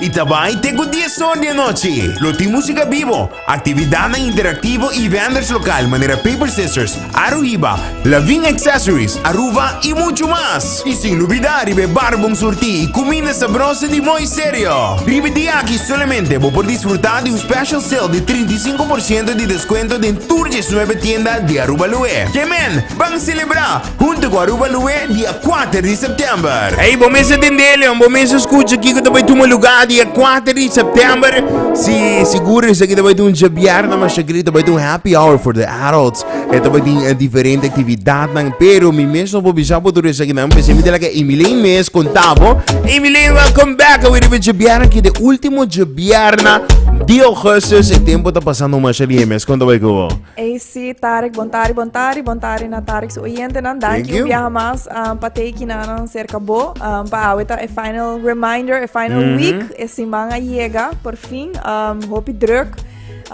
I ta bai te ku dies or di anochi. Lo tin músika bibo, aktividatnan interaktivo i venders lokal manera Paper Sisters, Aruhiba, Lavin Accessories, Aruba i muchu mas. I sin lubidá riba e bar bon surtí i kuminda sabroso di Mooi Stereo. Riba dia aki solamente bo por disfrutá di un special sale di trinta i sinku por siento di deskuento den tur djesnuebe tienda di Aruba Loe. Ke men, ban selebrá! Hunto cu Aruba Lue dia kuater di september. Ey, bo mester tende, Leon. Bo mester scucha kico ta bay tuma luga dia kuater di september. Si sigur esaki ta bay ta un djebièrna, mas ta kere ta bay ta un happy hour for the adults. E ta bay tin diferente actividadnan. Pero mi mes no por bisa bo tur esakinan, p'esei mi ta laga Emilein mes conta bo. Emilein, welcome back! Awe riba djebièrna, ki e ultimo djebièrna di augustus. E tempo ta pasando masha riba e mes. Con ta bay cu bo? Ey si Tarek bontari bontari bontari na Tarek su oyentenan danki un biaha mas um, pa tei kinanan serka bo um, pa awe ta e final reminder e final mm -hmm. week e siman a yega por fin um, hopi druk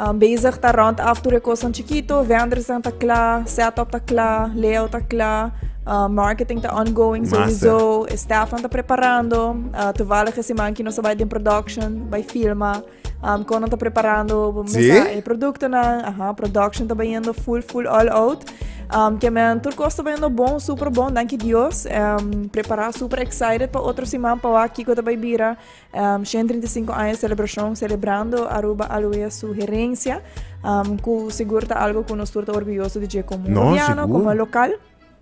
um, bezig ta rond af tur e kosan chiquito vendersen ta kla setup ta kla layout ta kla Uh, marketing ta ongoing sowieso. Staff ta preparando. Uh, toevallig is die man die nog bij de production, bij filma. Um, kon ta preparando mesa e producto na, aha, production ta bayendo full full all out. Um, que men tur costa bayendo bom, super bom, danke Dios. Um, prepara super excited pa otro semana pa wa kiko ta bay bira. Um, 135 años celebración celebrando Aruba Aloe su herencia. Um, ku seguro ta algo ku nos tur ta orgulloso de je como no, gobierno, como local.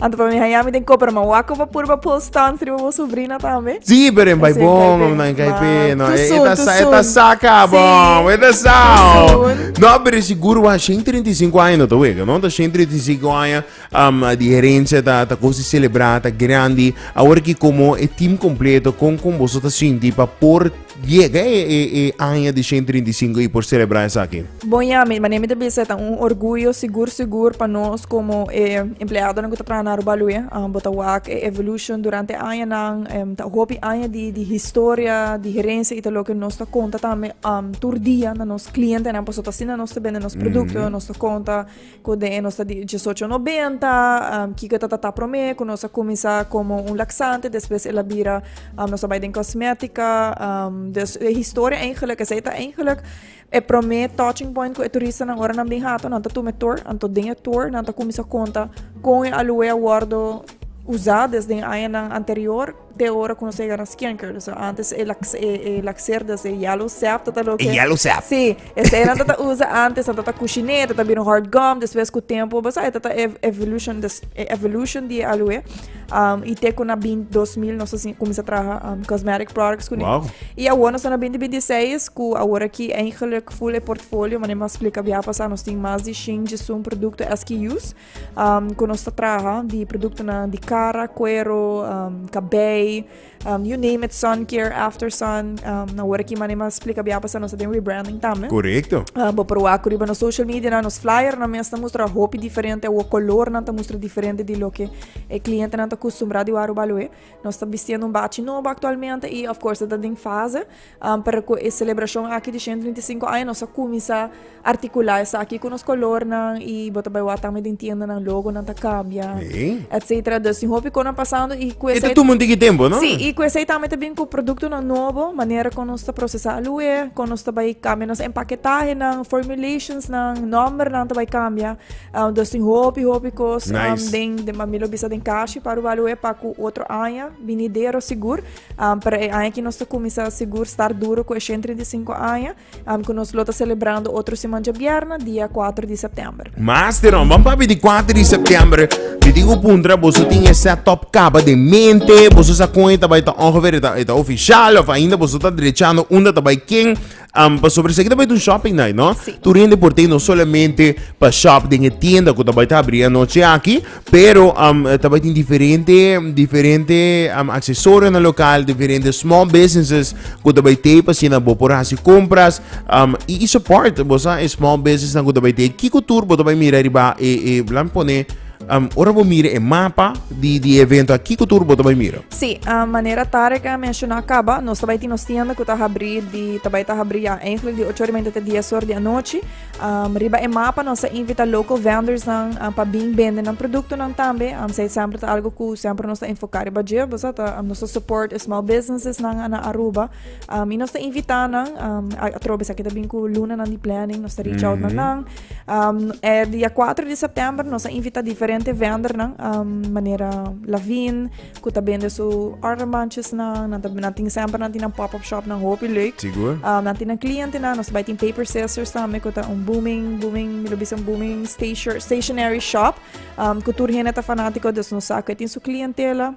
Anto pa mi haya mi den ko pero ma wako pa purba pool staan sriba bo sobrina tambe. Si, pero en bai bon om nan kai pe. No, e ta sa, e ta sa ka bon. E ta sa. No, pero sigur wa 135 aña no ta wega, no? Ta 135 aña um, di herencia ta ta cosa celebra, ta grandi. Awor ki como e team completo con con boso ta sinti pa por Yega e aña di shen trinta i sinku i por selebrá esaki. Bon ya mi, mane mi ta bisa e ta un orguyo sigur sigur pa nos komo e empleadonan ku ta traha na Aruba Lue. Bo ta wak e evolushon durante e añanan, ta hopi aña di di historia, di herensia i ta loke nos ta konta tambe tur dia na nos klientenan pasobra ta asina nos ta bende nos produkto, nos ta konta. Cu den e nos ta di diesocho nobenta, kico ta tata prome cu nos a cuminsa como un laxante, despues el a bira nos a bay den cosmetica, dus e historia eigenlijk esey ta eigenlijk e prome touching point cu e turistanan ora nan bin hato nan ta tuma e tour, anto den e tour nan ta cuminsa conta con e aloe a wordo usa desde añanan anterior. te ora ku nos ega na skenker. So antes e lax e, e laxerdas e yellow sap tata lo E yellow sap. Sí, ese era tata usa antes tata kushiné, tata bino hard gum, después ku tempo basa e tata ev- evolution des, e evolution di aloe. Um, y te ku na bin 2000 nos así comienza traha um, cosmetic products ku Wow. Y ahora nos na 2026 ku ahora ki eigenlijk full e portfolio, mané mas explica bia pasa nos tin mas di shin jisun producto SKUs. um, ku nos ta traha di produktonan di kara, kuero, um, kabei, um, you name it, sun care, after sun. Um, na word ki manema explica bia pasa nos den rebranding tambe. Correcto. Uh, bo proa ku riba nos social media na nos flyer na mes ta mustra hopi diferente o color na ta mustra diferente di lo que e cliente na ta acostumbrado di waro baloe. Nos ta bistiendo un bachi nobo actualmente y of course ta den fase, pero cu e celebracion aki di ciento treinta y cinco aña nos a cuminsa articula esaki cu nos colornan y bo ta bay wak tambe den tiendanan logonan ta cambia etcetera dus tin hopi cosnan pasando y cu esey. E ta tuma un tiki tempo no? Sí, y cu esey tambe ta bini cu productonan nobo, manera con nos ta procesa aluhe, con nos ta bay cambia nos empaquetahenan, formulations nan, nombernan ta bay cambia. Um, dus tin hopi, hopi kos nice. um, den, den mami lo bisa den kashi para walo e paku otro aña binidero sigur. Um, para e aña ki nos ta kumisa sigur star duro ku e 135 aña. Um, ku nos lo ta celebrando otro semanja bierna, dia 4 di september. Master, um, bam papi di 4 di september. Mi tin ku puntra, boso tin e setup kaba de mente, boso sa kon eta bai ta ongeveer eta, eta oficial, of ainda boso ta drechando unda ta bai ken. Um, pa sobre seguida vai um shopping night, não? Sim. Tu rende por ter não somente para shop de tienda que vai estar abrir a noite aqui, pero um, também tem diferente diferente um, acessórios no local, diferente small businesses que vai ter para ser na boa por fazer compras um, e, e support, você é small business na que vai ter que cultura, você vai mirar riba e e plan pone Um, ora bo mira e mapa di, di evento, aquí que turbo te mira? Sí, uh, manera Tarek a mencionó acaba, nos tabay tinos tienda que ta abrir, di, tabay ta abrir ya, eigenlijk di 8 horas te 10 horas de anoche. Um, riba e mapa nos invita local vendors nan, um, pa bin vende nan producto nan tambe, um, zij sempre ta algo ku sempre nos ta enfocar riba je, bosa ta, um, nos ta support small businesses nan ana Aruba, um, y nos ta invita nan, um, a, a trobe sa kita bin ku luna nan di planning, nos ta reach out mm -hmm. nan nan, Um, er dia 4 de september nos a invita diferente vender nan um, manera Lavin ku ta bende su ornamantjes nan nan ta nan tin semper nan tin pop up shop nan hopi leuk Sigur. um, nan tin cliente nan nos bai tin paper scissors tambe ku ta un booming booming mi lo bisa un booming station, stationary shop um, ku tur hende ta fanatiko dus nos sa ku tin su clientela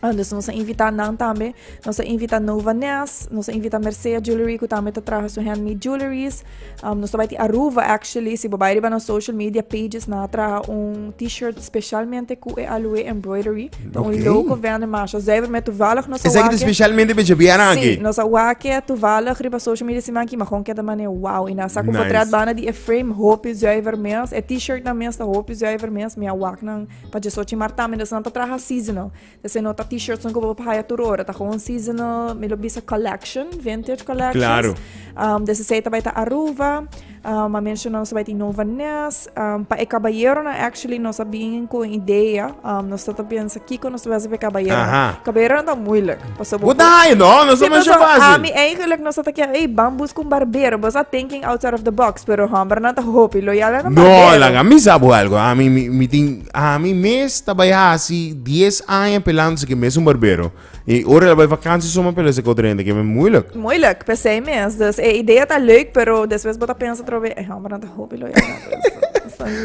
Andes nos a invita nan tambe nos a invita Nova Ness nos a invita Mercea Jewelry ku tambe ta traha su handmade jewelries um, nos ta bai ti Aruba actually si bo bai riba na social media pages na traha un t-shirt specialmente ku e aloe embroidery ta un okay. loco vende masha zuiver met toevallig nos Is wake specialmente bij biara aquí nos a wake toevallig riba social media siman ki magon keda mane wow ina sa ku nice. potret bana di e frame hopi zuiver mes e t-shirt na mes ta hopi zuiver mes mi a wak nan Pa djesochi mar tambe nos nan ta traha seasonal. Ta ser nota t-shirts nan ku bo haya tur ora. Ta gewoon seasonal, mi lo bisa collection, vintage collections. Claro. Um, desesei ta bai ta Aruba. Um, a mencionan nos ta bai ta Nova Ness. Um, pa e caballeronan, actually, nos a bin ku un idea. Um, nos ta ta pensa kiko nos ta bisa pa e caballeronan. Aha. Caballeronan ta moeilijk. Bo ta hayo no, no so masha fácil. Ami eigenlijk no sa ta kia, ey, ban buska un barbero. Bo sa thinking outside of the box, pero hombernan ta hopi loyal na nan barbero. No, laga mi sa bo algo. Ami, mi, mi tin, ami mes ta bai hasi dies aña pelando seki mes un barbero. I ora el a bai vakantie so mi a pela seki otro hende, keme moeilijk. Moeilijk, p'esei mes. Dus e idea ta leuk, pero despues bo ta pensa otro be, ey, hombernan ta hopi loyal na bos.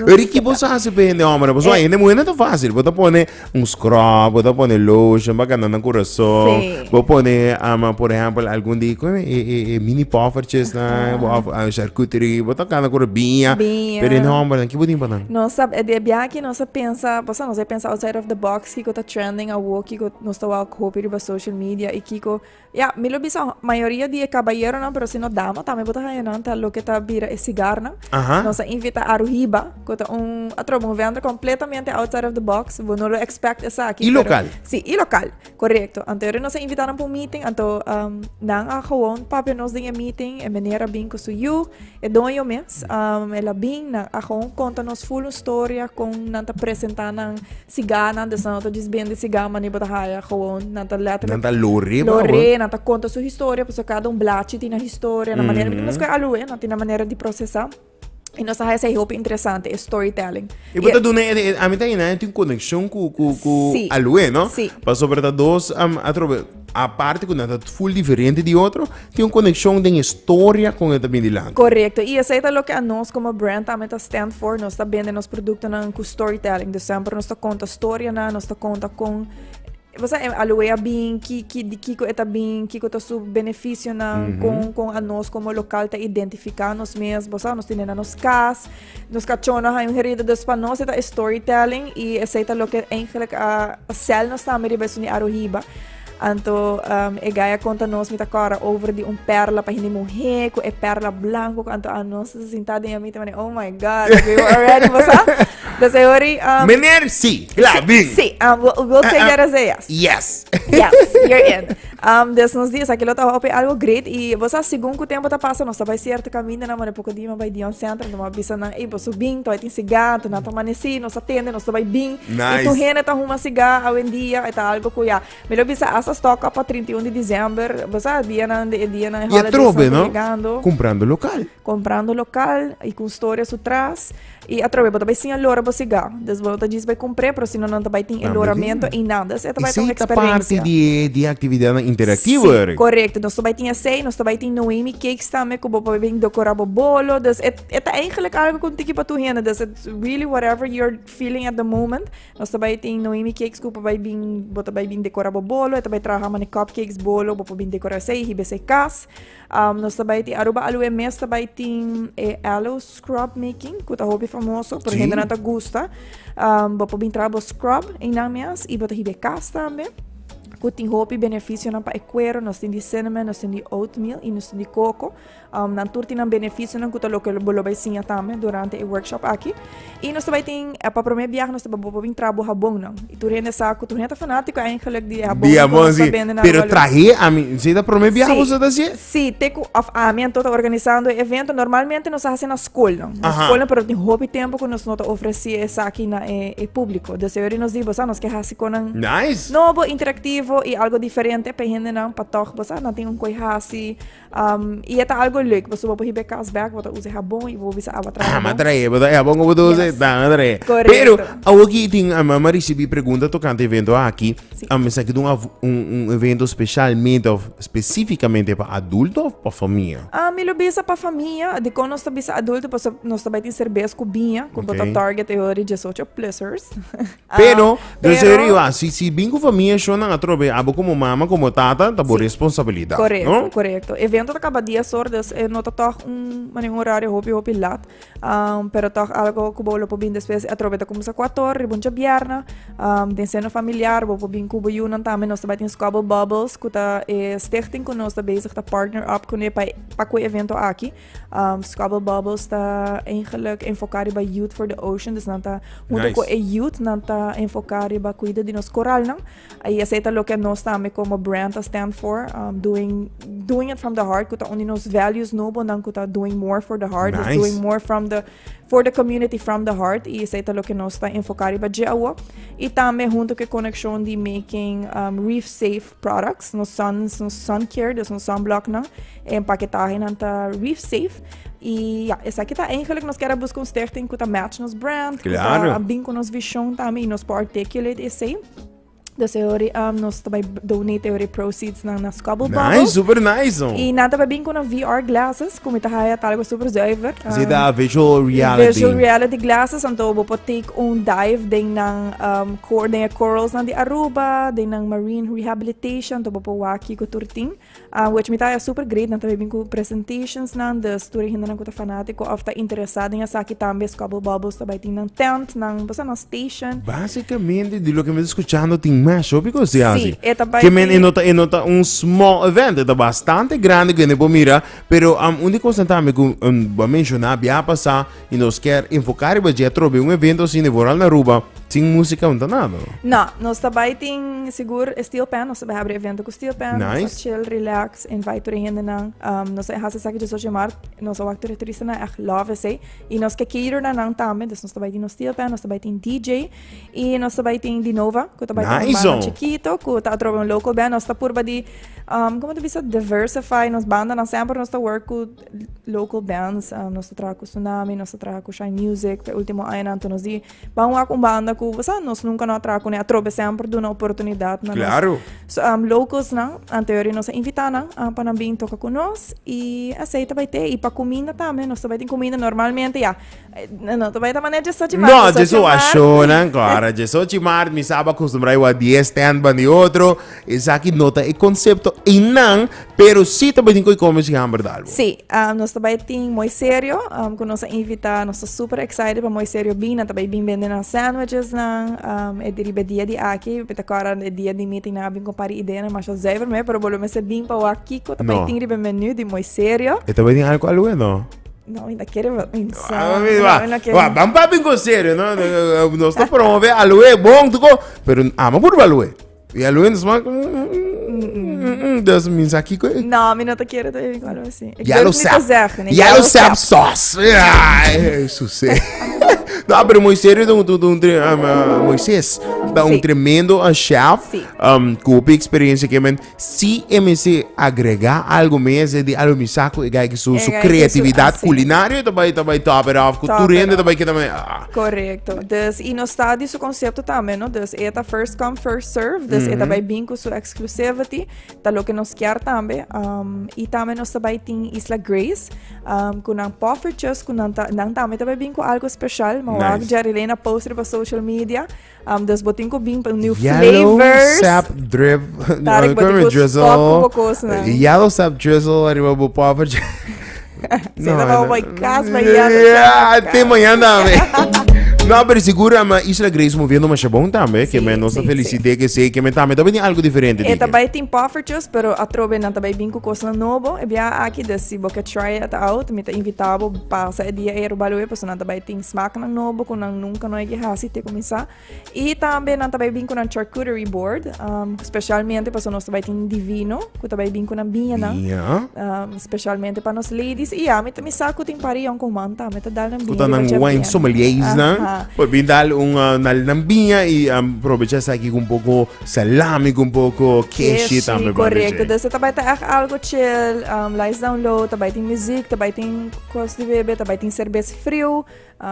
Ricky, bo sa hasi p'e hende hombernan? Pasobra hende muhernan ta fácil. Bo ta pone Un scrub bo ta pone lotion pa kanda nan kurason bo pone ama por ehempel algun di kue e e e mini poffertjes nan of charcuterie bo ta kanda kura biña pero e nomber nan kico bo tin pa nan. Nos ta e bia aki nos a pensa bo sa nos a pensa outside of the box kico ta trending awo kico nos ta wou a hopi riba social media y kico Ya, mi lo bisa mayoria di e caballeronan, pero si no dama tambe bo ta haña nan, ta loke ta bira e sigarnan. Aha. Nos a invita Aruhiba, cu ta un, atroba, un vender completamente outside of the box. Bo no lo expect esaki. Y pero- local. Sí, y local, correcto. Anto ere nos a invita nan pa un meeting, anto ehm, nan a gewoon papia nos den e meeting, e meneer a bin cu su yu, E doño mes, um, el a bin na Agon, conta nos full un storia con nan ta presenta nan siga, nan de sanota dis ben de siga, mani bota haya gewoon, nan ta letterlijk... Nan ta lore, Lore, nan ta conta su historia, pues cada un blachi tina historia, na manera, mm -hmm. mas alu, eh, nan tina manera di procesa. Y nos hace ese hopi interesante, es storytelling. Y bota dune, a mí también hay una conexión con, con, con sí. Alue, ¿no? Sí. Paso, ¿verdad? Dos, um, atrobe, Aparte cu nan ta full diferente di otro, tin un coneccion den e storia con e ta bini dilanti. Correcto, y esey ta loke anos como brand tambe ta stand for, nos ta bende nos productonan cu storytelling, dus semper nos ta conta storianan, nos ta conta con bosa e aloe a bin, ki, ki, di kico e ta bin, kico ta su beneficionan, con, con anos como local ta identifica nos mes, bosa nos tene na nos cas, Nos cachona haña un herido, dus pa nos e ta e storytelling y esey ta loke eigenlijk a sel nos tambe riba esun di Aruhiba. Anto um, e gaya conta nos mi ta cora over di un perla pa hindi muhe cu e perla blanco cu anto a nos se sinta den mi te mane oh my god we were already basa dus e hori um, Meneer, sí, klaar, bien. sí um, we'll, we'll take that as a yes Yes. yes you're in Um, des nos dias aki lo ta hopi algo great y vos a segun ku tempo ta pasa nos ta bai cierto caminda na mane poco dima bai Dion Center no bisa nan e boso bin to tin siga to na ta manesi nos atende nos ta bai bin nice. y tu hene ta huma siga a wen dia eta algo ku ya me lo bisa hasta stock up pa 31 de diciember vos a dia nan de dia nan holidays no comprando local comprando local y ku storia su tras Y atrobe bo ta bay sin e lora bo siga, dus bo no ta djis bay cumpré, pero si no nan ta bay tin e loramento ey nan, dus ey ta bay ta un experiencia. Esey ta parti di e actividadnan interactivo ey. Sí, correcto. Nos ta bay tin esey, nos ta bay tin Noemi Cakes tambe cu bo por bay docora bo bolo, dus e e ta eigenlijk algo cu un tiki pa tur hende, dus it's really whatever you're feeling at the moment. Nos ta bay tin Noemi Cakes cu por bay bin, bo ta bay bin decora bo bolo, e ta bay traha mane cupcakes, bolo, bo por bin decora esey, hiba esey cas. Um, nos ta bai tin Aruba Aloe mes ta bai tin e aloe scrub making, ku ta hopi famoso, por gente na ta gusta. Um, bo pobin tra bo scrub in nan mes i bo ta hibe kas tambe. Ku tin hopi beneficio nan pa e cuero, nos tin di cinnamon, nos tin di oatmeal i nos tin di coco. Um, nan tur tin nan beneficio nan ku ta lo ke bo lo bai siña tambe durante e workshop aki. Y nos ta bai tin, pa prome biaha nos ta bai por bin traha bo habon nan. Y tur hende sa cu tur hende ta fanatico eindelijk di e habon cu nos ta bende na Pero Aruba Luis. trahe a mi, si ta prome biaha cu boso ta haci e? Sí, te cu, of ami anto ta organisando e evento, normalmente nos a haci na scolnan. Na Aha. scolnan, pero tin hopi tempo cu nos no ta ofreci esaki na e, e publico. Dus e ori nos di, bo sa, nos ke haci conan Nice! nobo, interactivo y algo diferente pa e hendenan, pa toch, bo sa, nan tin un koe haci. Um, y e ta algo leuk, paso bo hibe kasbek, bo ta usa jabon y bo bisa awa trae. Ah, ma trae, bo ta jabon bo ta usa, yes. ta trae. Correcto. Pero, awo ki tin, a mama recibi pregunta tocante evento aki, sí. a mesa ki dun un, un evento specialmente of specificamente pa adulto of pa familia? Ah, mi lo bisa pa familia, de kon nos ta bisa adulto, paso nos ta bai tin cerveza cu biña, cu okay. bota target e ori 18 plusers. Pero, yo se riu a, si, si bin ku famia shonnan atrobe, abo komo mama, komo tata, ta bo Sí. responsabilidat, Correcto, no? correcto. Evento ta caba 10 horas, dus eh, no ta toch un, mani un horario hopi hopi lat. Um, pero toch algo cubo lo po bin después atrobe ta comenzar 4 horas, riba un chabierna, um, den seno familiar, bo po bin cubo yunan tambe, nos ta bai tin Squabble Bubbles, cu ta eh, stichting cu nos ta bezig ta partner up cune pa, pa cu evento aki. Um, Squabble Bubbles ta eigenlijk enfoká riba Youth for the Ocean. Dus nan ta, junto nice. e youth, nan ta enfoká riba cuida di nos coralnan. Y ese ta lo que nos tambe como brand ta stand for. Um, doing, doing it from the heart. Kuta undi nos values nobo nan kuta doing more for the heart. Nice. Dus doing more from the, for the community from the heart. Y ese ta lo que nos ta enfoká riba dje awo. Y tambe junto ke connection di making um, reef safe. products, nos sun, nos sun care, dus nos sunblocknan, e empaquetahenan ta reef safe. Y ja, esaki ta eigenlijk, nos kera busca un stichting ku ta match nos brand, ku Claro. ta bin ku nos vision tambe, y nos por articulate esei. Dus e hori, um, nos ta bai donate e hori proceeds nan na Scubble Bubble. Nice, super nice, no. Y nan ta bai bin ku na VR glasses, ku mi ta haya ta algo super zuiver. um, Zit a visual reality. Virtual reality glasses, anto bo por take un dive den nan um, Coorden e coralsnan di Aruba, den nan marine rehabilitation, to bopo wak kiko tur tin. Um, wech mi ta ya super great, nan ta bin ku presentationsnan, dus tur e hindenan ku ta fanatiko of ta interesa den esaki tambe, Scobble Bobbles ta bai tin nan tent, nan, bosa nan station. Básicamente, di loke mi ta escuchando, tin masho piko si hasi. Sí, e ta bai Ke men tin- e no ta e no ta un small event, e ta bastante grande ku hende por mira, pero um un di kosanan tambe ku um bo a menciona bia pasá Y nos kier enfoca riba dje trobe un evento así nivo Ral Naruba sin música un tanado. No, nos ta bai tin sigur Steel Pen, nos ta bai habri evento cu Steel Pen. Nice. Nos ta chill, relax, invite tur hende nan. Um, nos ta hasi saki de sochi mar, nos ta wak tur turista nan echt love esey. Y nos ke cater na nan tambe, dus nos ta bai tin nos Steel Pen, nos ta bai tin DJ. Y nos ta bai tin Dinova, cu ta bai nice, un banda chikito, cu ta atrobe un local band. Nos ta purba di, um, como te bisa, diversify nos banda nan semper nos ta work cu local bands uh, nos ta traha ku Tsunami, nos ta traha ku Shine Music, pe ultimo añanan to nos di ban wak un banda ku sa nos nunca no traha kune atrobe semper duna oportunidad na Claro. Nos. So um, locals nan anterior nos a invita nan uh, pa nan bin toka ku nos i así ta bai te i pa comida también nos ta bai tin comida normalmente ya No, ta bai ta manera dje sochi mart. No, dje so a shonan kora. Dje sochi mart mi sa ba kostumbrá i wak dies tènt ban di otro. Esaki no ta e konsepto einan, pero si ta bai tin ku e kòmbersi hamber di algu. Sí, nos ta bai tin Mooi Serio ku nos a invitá. Nos ta super excited pa Mooi Serio bin. Nan ta bai bin bende nan sandwichesnan e di riba e dia di aki. Mi ta kòrda e dia di meeting nan a bin ku un par di ideanan masha zùiver me, pero bo lo mester bin pa wak kiko ta bai tin riba e menu di Mooi Serio. E ta bai tin algu alwe, no? No, mi ta kere pensá. Ah, mi, wa, No, no quiero. wa, ban papi con serio, no, no, no, no está promover a Lue, bon, tu co, pero ama por a Lue. Y a Lue nos man, mm, mm, mm, mm, dus mins aquí, co, No, mi no te quiero te digo algo así. Ik ya lo durf niet te sap, zeggen, nee, ya lo sap, sos. Ai, Susé. No, pero muy serio, tu, tu, tu, tre- um, uh, Moisés, da un Sí. tremendo uh, chef, Sí. um, kopi experiencia que men, Si e mester agregá algu mes e di algu mi sa ku e ga hegi su su kreatividat kulinario ta bai ta bai top it off ku tur hende ta bai keda me ah. Korekto. Dus i nos ta di su konsepto tambe no dus e ta first come first serve dus e ta bai bin ku su exclusivity ta loke nos kier tambe i tambe nos ta bai tin Isla Grace ku nan poffertjes ku nan ta nan tambe ta bai bin ku algu speshal mi wou aki Jerry Lane a post riba social media. Dus bo tin ku bin pa un new flavors. Yellow sap drip. Tarek, bo tin ku stop ku bo kosnan. Yellow sap drizzle arriba bo popper. Sei na baba boy kas ba yellow. Yeah, te mañana me. No, pero segura ma Isla Grace moviendo masha bon tambe. Sí, que me nos sí, felicite sí. que se que me tambe tambe tiene algo diferente. E tambe tin poffertjes, pero atrobe nan tambe bin ku kosnan nobo. E bia aki de si bo ke try it out, mi ta invitabo pasa e dia e robalo e, paso nan tambe Tin smaknan nobo ku nan nunka no a ke hasi te kuminsá. I tambe nan ta bai bin ku nan charcuterie board, um, spesialmente paso nos ta bai tin divino, ku ta bai bin ku nan biñanan. Biña. Um, spesialmente pa nos ladies. I ya, mi, ta- mi sa ku tin pari yon ku man ta, mi ta dal nan biña. Kuta di nan bacha wine biña. sommeliers Aha. nan. Por bin dal un uh, nal nan biña i um, probecha sa ki un poco salami, con poco keshi Keshi, tambe. correcto. baby. Dus het tabij te echt algo chill. Um, Lights Down Low, tabij tin muziek, tabij tin kos di bebe, tabij tin cerveza Friu,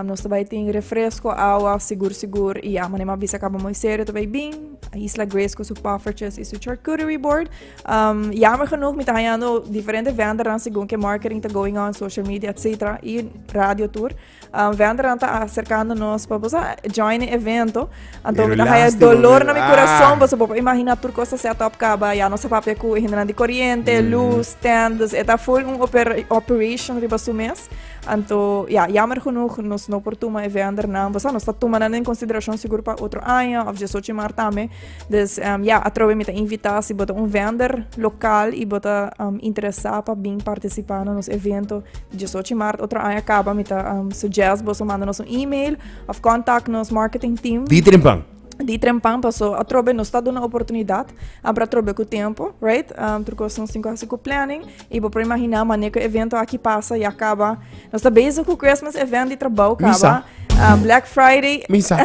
nos ta bai tin refresco, awa, sigur sigur, y amo nema bisa cabo moisero ta bai bin, Isla Grace con su poffertjes y su charcuterie board. Um, jammer genoeg, mi ta hangando diferente vendernan según que marketing ta going on, social media, etc. Y radio tour. Um, vendernan ta acercando nos pa bosa join in evento. Anto mi ta haya dolor na mi corazón, bosa bopa imagina tur cosa set up caba, ya no sa papia cu hindernan di corriente, luz, stands, eta full un operation riba su mes. Anto, ya, jammer genoeg, nos no por tuma e vender nan. Bosa, nos ta tuma nan en consideracion sigur pa otro aña of diesocho mar tambe. Dus, um, ya, atrobe mi ta invita si bota un vender local y bota um, interesa pa bin participa na nos evento diesocho mar otro aña caba. Mi ta um, suggest boso manda nos un email of contact nos marketing team. Di trimpan. di trempan paso atrobe nos ta duna oportunidad abra trobe ku tempo right um, tur kos nos tin ku hasi ku planning i bo por imagina mane ku evento aki pasa ya kaba nos ta bezig ku christmas event di trabou kaba uh, black friday misa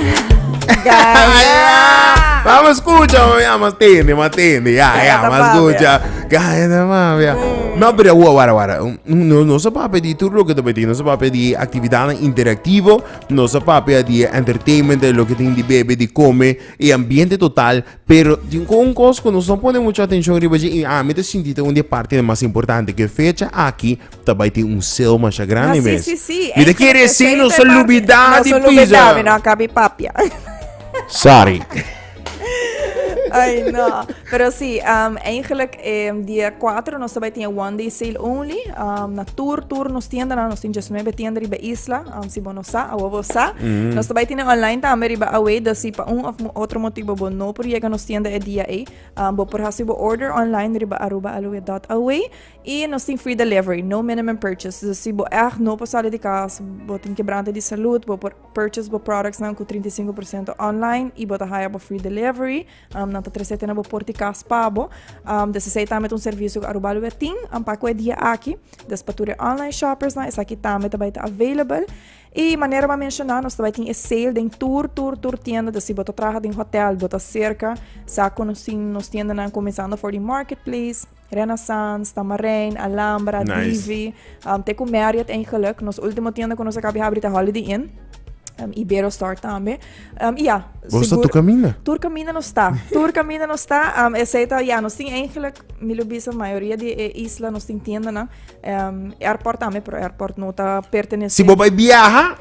Vamos escucha, ya mas tende, mas tende, ya, ya, mas escucha. Gaya de mafia. No, pero wara wara. No, no se va a pedir tu lo que te pedí, no se va a pedir actividad interactivo, Nos a papia di e entertainment, e loke tin di bebe, di come, e ambiente total, pero tin cu un cos cu nos no pone mucho atencion riba dje, y ami ta sinti ta un di e partenan mas importante, cu e fecha aki ta bay tin un sale masha grandi Ah, sí, mes. sí, sí. Mi ta Ey, quiere creo que decir, ese nos es a el parte. lubida Nos di olvidá, mi no pisa. a cabi papia. Sorry. Ay, no. Pero sí, um, eigenlijk um, dia 4 nos tabay tiene one day sale only. Um, na tour, tour nos tienda, na nos tiene 19 tienda riba isla. Um, si bono sa, awa bo sa. Mm -hmm. Nos tabay tiene online tambe riba away. Da si pa un of otro motivo bo no por llega nos tienda e dia e. Um, bo por hasi bo order online riba arubaaloe.away. Y nos tiene free delivery, no minimum purchase. Da si bo echt no por sali di kas, bo tiene quebrante di salud, bo por Purchase bo productsnan cu trinta i sinku por ciento online y bo ta haya bo free delivery. Um, nan ta trece te na bo porti cas pa bo. Um, des esey tambe ta un servicio cu Aruba Luwe tin. Um, pa cu e dia aki, des pa tur e online shoppersnan, esaki tambe ta bay ta available. Y manera m'a menciona, nos ta bay tin e sale den tur, tur, tur tienda. Des si bo ta traha den hotel, bo ta cerca, sa conoci nos tiendanan comenzando for di marketplace. Renaissance, Tamarijn, Alhambra, nice. Divi. Um, te ku Marriott eigenlijk. Nos ultimo tienda ku nos akabi habri te Holiday Inn. Um, Ibero Store tambe. Um, ja, Vos sigur... tur camina? Tur camina no sta. Tur camina no sta. Um, excepto, ja, nos tin eigenlijk, mi lo bisa, mayoria di e isla nos tin tienda na. Um, airport tambe, pero airport no ta pertenece. Si bo bai viaja,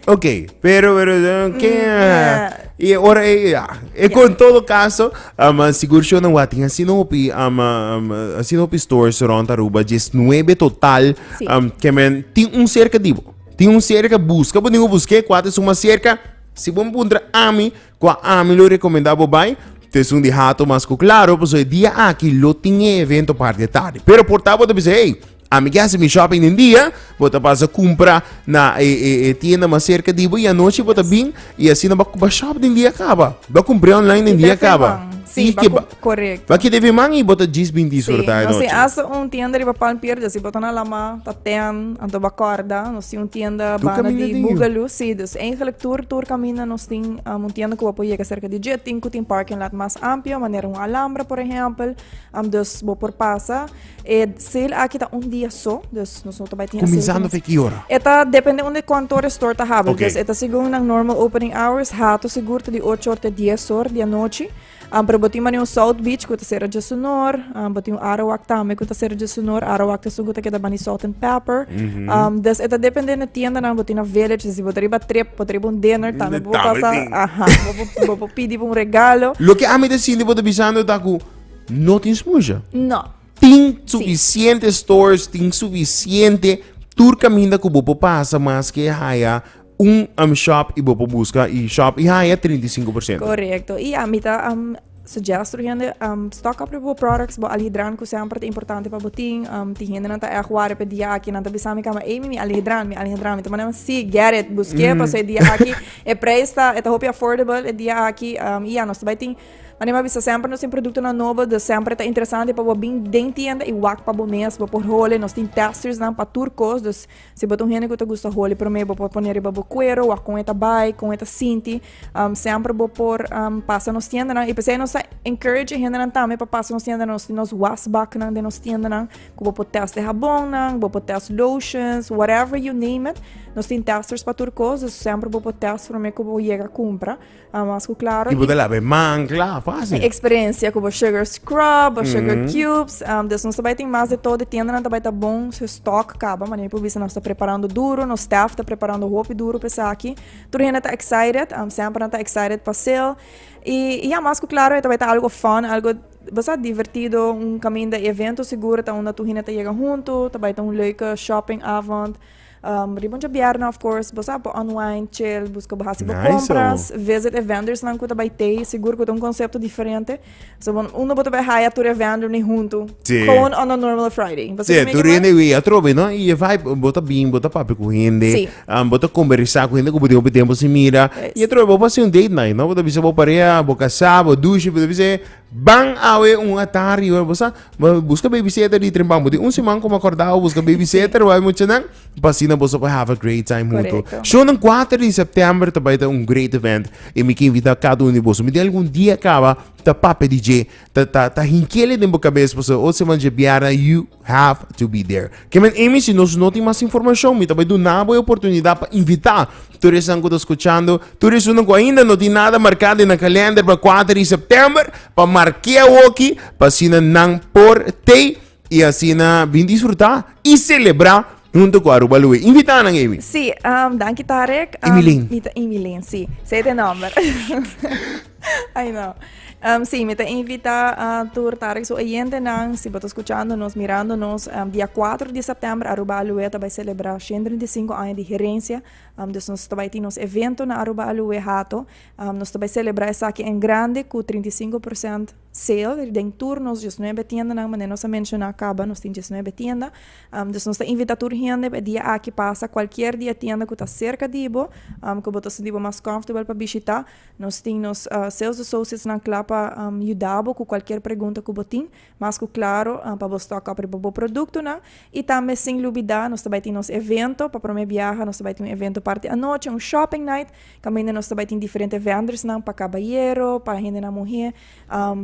Ok, pero, pero, pero ¿qué? Mm, y ahora, eh, ya. Eh, con yeah. todo caso, um, ah, seguro yo no voy a tener así no hopi, um, ah, um, ah, así no hopi stores rond Aruba, 19 total, sí. um, que men, tin un cerca divo, tin un cerca busca, pues digo busqué, cuatro suma cerca, si bom puntra ami, qua ami lo recomendaba bai, te sun di hato mas claro, pues hoy día aquí lo tiene evento par de tarde, pero portabo te dice, hey, Ami ke hasi mi shopping den dia, bo ta pasa kumpra na e e e tienda mas serka di bo i anochi bo ta bin i asina bo bo a shop den dia kaba. Bo a kumpr'é online den dia kaba. Si, I bo a ke ba kump, korekto. bo a keda fe man i bo ta djis bin Si, disfrutá e nos tin nochi. hasta un tienda riba Palm Pier di así bo ta na Alamá, ta tèn, anto bo a kòrda, nos tin un tienda Tur banda kaminda di di yu. Boogaloo, si, dus eigenlik tur tur kaminda nos tin am un tienda ku bo por yega serka di dje, tin ku tin parking lot mas ampio, manera un Alhambra por ehèmpel, am dus bo por pasa. E sale aki ta un dia so, dus nos no ta bai tin Kuminsando fe ki ora? E ta depende unde kantoor e store ta habri. Okay. Dus e ta segun nan normal opening hours, hato sigur ta di ocho or te dies or di anochi. Um, pero botin mane un South Beach ku ta sera dje sunor, um, botin un Arawak tambe ku ta sera dje sunor. Arawak ta sugu ta keda bani salt and pepper. Um, dus e ta depende na tienda nan botin na village, dus si bota riba trip, bota riba un dinner tambe, bo tambe pasa, tin. aha, bo bo- bo bo pidi pa un regalo. Loke ami ta sinti bo ta bisando ta ku No tin smusha? No. Tin suficiente sí. stores, tin suficiente tur caminda cu bopo pasa mas que haya un um, shop y bopo busca y shop y haya 35%. Correcto. Y a mita um, suggest tur hende um, stock up bopo products, bo alhidran cu sempre te importante pa botin. Um, tin hende nan ta echt ware pe dia aki, nan ta bisa mi cama, ey, mi, mi alhidran, mi alhidran. Mi ta manda, sí, get it, busque, mm. paso e dia aki, e prijs ta, e ta hopi affordable e dia aki, um, y ya, nos ta bay tin. Anima bisa semper nos tin produktonan nobo dus semper ta interesante pa bo bin den tienda i wak pa bo mes bo por holi nos tin testersnan pa tur kos dus si bo ta un hende ku ta gusta holi promé bo por pone riba bo kuero wak kon e ta bai kon e ta sinti semper bo por pasa nos tiendanan i p'esei nos ta encourage e hendenan tambe pa pasa nos tiendanan nos tin nos was baknan den nos tiendanan ku bo por test e habonnan bo por test lotions whatever you name it nos tin testers pa tur kos dus semper bo por test promé ku bo yega kumpra. A mas ku klaro. I bo ta laba e man kla, fásil. E eksperensia ku bo sugar scrub, bo sugar cubes. Des nos ta bai tin mas de todo. E tiendanan ta bai ta bon. Su stock kaba. Mane mi por bisa nos ta preparando duro. Nos staff ta preparando hopi duro pa esaki. Tur hende ta excited. Semper nan ta excited pa sale. I ya, mas ku klaro e ta bai ta algo fun, algo basta divertido. Un kaminda evento sigur ta unda tur hende ta yega huntu. Ta bai ta un leuke shoppingavond. Um, riba un djabierna, of course, bo sa, pa unwind, chill, busca bo hasi bo Nice, compras, visit e vendors nan ku ta bai tei, sigur ku ta un concepto diferente. So, bon, uno bo ta bai haya tur e vendor ni junto, Sí. gewoon on a normal Friday. Pasa Sí, que me tu que riende más- we atrobe, no? Y je vibe, bota bien, bota papi con gente, Sí. um, bota conversar con gente que bota tiempo sin mira. Yes. Y atrobe, bota hacer un date night, no? Bota bisa bo pareja, bo casa, bo douche, bota bisa, Ban awe un ata riba bo sa bo buska babysitter di tren pampu tin un siman como acordado busca babysitter wou hay mucha nan pa asina boso por have a great time hunto Correcto. show nan cuater di september ta bay ta un great event y mi ke invita cada uno di boso mi tin algun dia caba ta papia di dje ta ta ta hinkele den bo cabeza pasobra otro siman dje biaran yu have to be there. Ke men Amy, si nos no tin mas informashon, mi ta bai duna bo e oportunidat pa invitá tur esnan ku ta skuchando, tur esunnan ku ainda no tin nada marká den nan kalènder pa kuater di sèptèmber, pa mark'é awoki pa asina nan por tei i asina bin disfrutá i selebrá huntu ku Aruba Loe. Invitá nan, Amy. Sí, danki Tarek. Amy Lane. Mi ta Amy Lane, sí. Sey ta e nòmber. Ay no. Um, sí, me te invita a tur tarik su oyentenan, si boto escuchándonos, mirándonos, um, dia 4 de septiembre, Aruba Alue ta bai celebra 125 años de gerencia, um, dus nos ta bai tin nos evento na Aruba Alue hato, um, nos ta bai celebra esaki en grande cu 35% sale, den tur nos 19 tienda nan, mane nos a menciona caba, nos tin 19 tienda, um, dus nos ta invita tur hende pa dia aki pasa cualquier dia tienda cu ta cerca di bo, um, cu boto sintibo mas comfortable pa bishita, Nos tin nos sales associatesnan kla pa yuda bo ku kualkier pregunta ku bo tin, mas ku klaro pa bo stock up riba bo produktonan. I tambe sin lubidá nos ta bai tin nos evento, pa promé biaha nos ta bai tin un evento parti anochi, un shopping night, kaminda nos ta bai tin diferente vendersnan pa kabayero, pa hendenan muhé,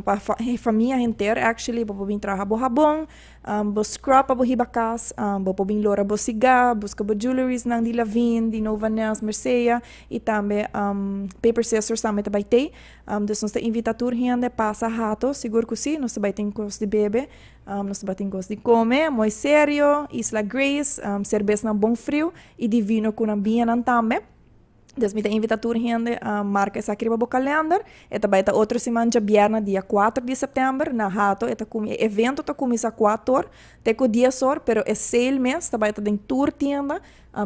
pa famia henter actually pa bo bin traha bo habon. Bo scrub pa bo hiba cas, bo por bin lora bo sigá, busca bo jeweleriesnan di Lavin, di Nova Nels, Mercea, y tambe Paper Sisters tambe ta bay tey. Dus nos ta invita tur hende pasa hato, sigur cu si, nos ta bay tin cos di bebe, nos ta bay tin cos di come, mooi serio, Isla Grace, cerbesnan bon friu y di vino cu nan biñanan tambe. Des mi ta invita tur hende a marca esaki riba bo calender e ta bai ta otro siman djabièrnè dia kuater di sèptèmber na hato e ta e evento ta kuminsá kuatu or te ku dies or pero e sale mes ta bai ta den tur tienda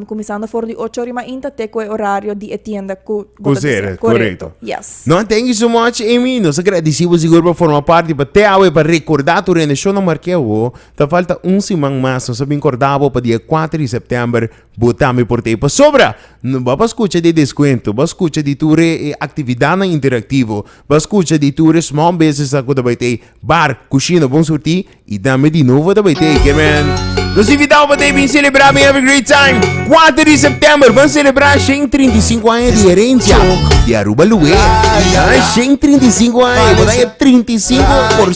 kuminsando for di ocho ora mainta te ku e orario di e tienda ku bo ta desea korekto yes no thank you so much Amy nos a gradisí bo sigur pa forma parti pa te awe pa rekordá tur hende shon a mark'é awo ta falta un siman mas nos a bin korda bo pa dia kuater di sèptèmber Bo tambe por ta e pasobra! No ba pa skucha di e deskuento, ba skucha di tur e aktividatnan interaktivo, ba skucha di tur e small businessnan ku ta bai ta e bar, kushina Bon Surtí i tambe di novo ta bai ta e Kermèn. Nos invitá bo pa ta e bin selebrá, bin have a great time! Kuater di sèptèmber ban selebrá shen i trinta i sinku aña di herensia di Aruba Lue. Ahan, shen i trinta i sinku aña, bo ta e trinta i sinku por.